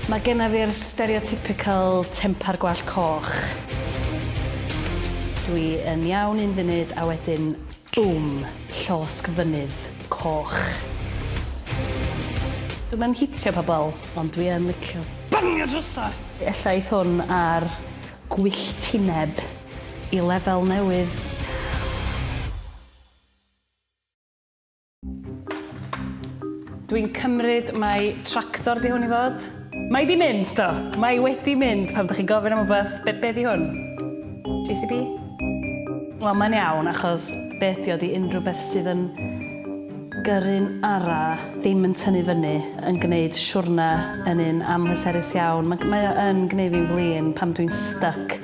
Mae genna fi'r stereotypical tempar gwallt coch. Dwi yn iawn un funud a wedyn Bum! Llosg Fynydd Coch! Dwi'm yn hitio pobl, ond dwi yn licio bangio drysau! Ella eith hwn ar gwylltineb i lefel newydd. Dwi'n cymryd mai tractor di hwn i fod. Mae di mynd, do. Mae wedi mynd pan ydych chi'n gofyn am rhywbeth, be, be di hwn? JCB? Wel, mae'n iawn, achos be ydi o di unrhyw beth sydd yn gyrru'n ara, ddim yn tynnu fyny, yn gwneud siwrna yn un amhleserus iawn. Mae, mae o yn gwneud fi'n flin pam dwi'n stuck.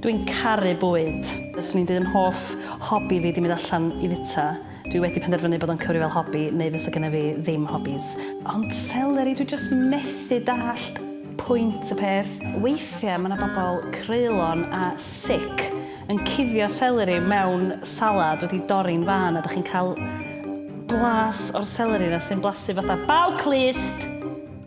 Dwi'n caru bwyd. Swn i'n deud yn hoff hobi fi 'di mynd allan i fita. Dwi wedi penderfynu bod o'n cyfri fel hobi neu fysa gynna fi ddim hobis. Ond seleri, dwi jyst methu dallt pwynt y peth. Weithiau mae 'na bobl creulon a sic yn cuddio seleri mewn salad wedi dorri'n fân a dych chi'n cael blas o'r seleri 'na sy'n blasu fatha baw clust!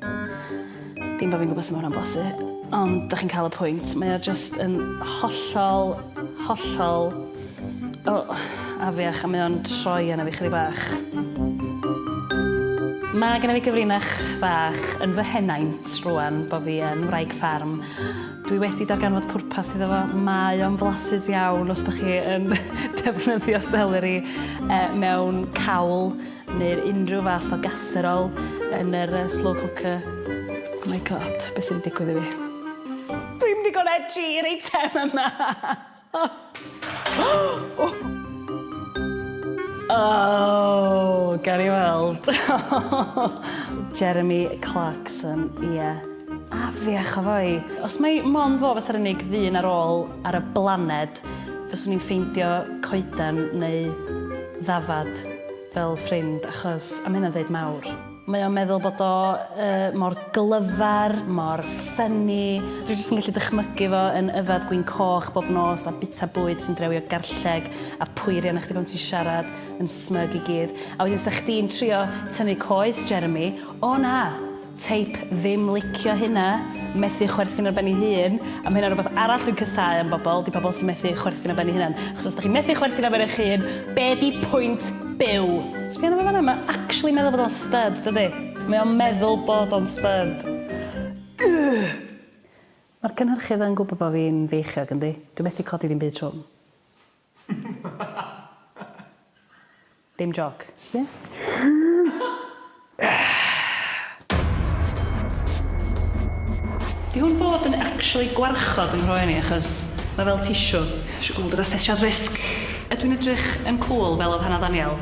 Dim bod fi'n gwybod sut mae hwnna'n blasu, ond dych chi'n cael y pwynt. Mae o jyst yn hollol, hollol, o, afiach, a mae o'n troi arna fi chydig bach. Mae gen i fi gyfrinach fach yn fy henaint rwan bod fi yn wraig ffarm. Dwi wedi darganfod pwrpas iddo fo. Mae o'n flasus iawn os dych chi yn defnyddio seleri mewn cawl. neu'r unrhyw fath o gaserol yn yr yy slow cooker. Oh my God, be' sy' 'di digwydd i fi? Dwi'm digon edgy i'r eitem yma! Oh! Gawn ni weld. Jeremy Clarkson, ie. Afiach o foi! Os mai mond fo fasa'r unig ddyn ar ôl ar y blaned, Cymraeg. Fyswn i'n ffeindio coeden neu ddafad fel ffrind achos, a mae hynna'n ddeud mawr. Mae o'n meddwl bod o mor glyfar, mor ffynni. Dwi jyst yn gallu dychmygu fo yn yfed gwin coch bob nos a bita bwyd sy'n drewio garlleg a pwyri arna chdi pan ti'n siarad yn smug i gyd. A wedyn 'sa chdi'n trio tynnu coes Jeremy, o na! Teip ddim licio hynna, methu chwerthin ar ben ei hun, a ma' hynna'n rwbath arall dwi'n casáu am bobl, 'di pobl sy'n methu chwerthin ar ben eu hunan. Achos os 'dach chi'n methu chwerthin ar ben eich hun, be' 'di pwynt byw? Sbia arno fo fanna, mae o actually'n meddwl bod o'n styd, dydi? Mae o'n meddwl bod o'n styd. Ugh! Mae'r cynhyrchydd yn gwybod bod fi'n feichiog, yndi? Dwi methu codi dim byd trwm. Dim jôc. Sbia. Di hwn fod yn actually gwarchod yng nghroen i achos mae fel tissue. Dwi isio gweld yr asesiad risg. Ydw i'n edrych yn cwl fel oedd Hannah Daniel?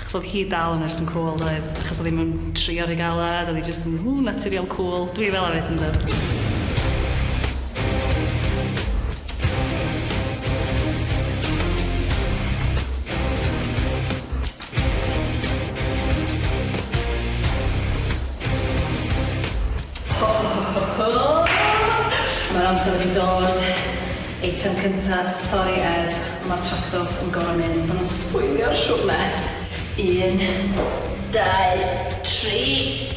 Achos odd hi dal yn edrych yn cŵl doedd? Achos odd 'i mewn trio rhy galed odd 'i jyst yn ww naturiol cŵl. Dwi fela 'fyd yndw? Ho ho ho ho! Ma'r amser wedi dod. Eitem cynta, sori Ed, ma'r tractors yn gor'o mynd, ma nhw'n sbwylio'r siwrne! Un, dau, tri!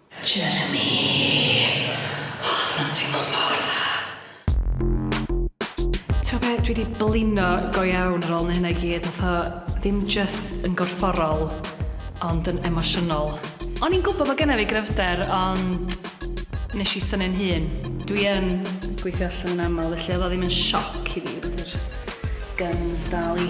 Jeremy! O, odd hwnna'n teimlo mor dda. T'mo' be', dwi 'di blino go iawn ar ôl neu' hynna i gyd, nath o ddim jyst yn gorfforol, ond yn emosiynol. O'n i'n gwbo bo' gynna fi gryfder ond nesh i synnu'n hun. Dwi yn gweithio allan yn amal felly odd o ddim yn sioc i fi bod yr guns dal i